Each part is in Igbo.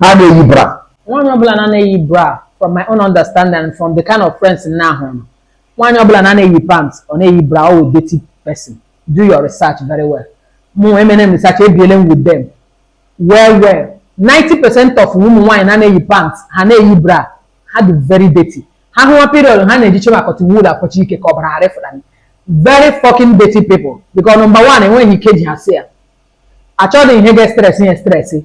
ha na-eyi bra nwaanyị ọbụla na-ana eyi bra from my own understanding and from the kind of friends m na-ahụ nọ nwaanyị ọbụla na-ana eyi pant ọ na-eyi bra ọ wụ dirty person do your research very well mụ emene m research ebiele m with them well well 90 percent of ụmụ nwaanyị na-ana eyi pant ha na-eyi bra ha dị very dirty ha hụwa period ha na-ejiche ma cotton wool akpọchi ike ka ọbara ghara ịfụta m. very fucking dirty people because number one enweghị ike ji ha si ya achọghị ihe ga-estresi ya estresi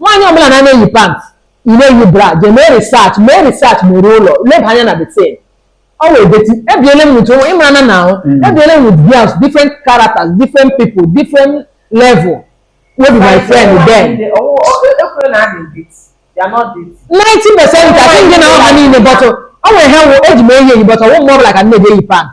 nwaanyị ọbụla na-ana eyi pant ị na-eyi bra jee mee research mee research very well leba anya na the thing ọ wụ dirty ebiele m with onwe ịmara na na ahụ Mm. ebiele m with girls different characters different people different level wey be my friend then ekwere na adị dirty they are not dirty ninety percent ka ndị na ọha niile but ọ nwere ha wụ eji m eyi eyi but ọwụ mgbe ọbụla ka a na-eyi pant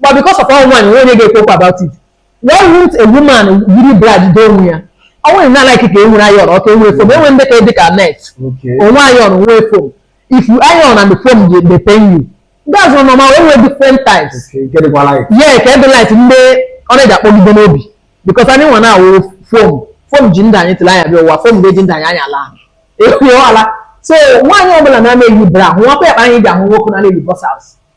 but because of all one onye ga-ekwu okwu about it why won't a woman yiri bra doo onwe ya ọ nwere na like ka e nwere iron ọka enwere foam enwere ndị ka dị ka net Okay. onwe iron onwe foam if you iron and the foam dey dey pain you that's one normal wey wey different types Okay, get it while I. yeah ka ebe light ndị ọ na-eji akpọgide n'obi because anyị nwa na-awụ foam foam ji ndị anyị tụrụ anya bịa ụwa foam ga-eji ndị anyị anya laa ekwughị ala so nwaanyị ọbụla na-ana eyi bra hụwakwa ya kpa anyị ji ahụ nwoke na-ana eyi boxers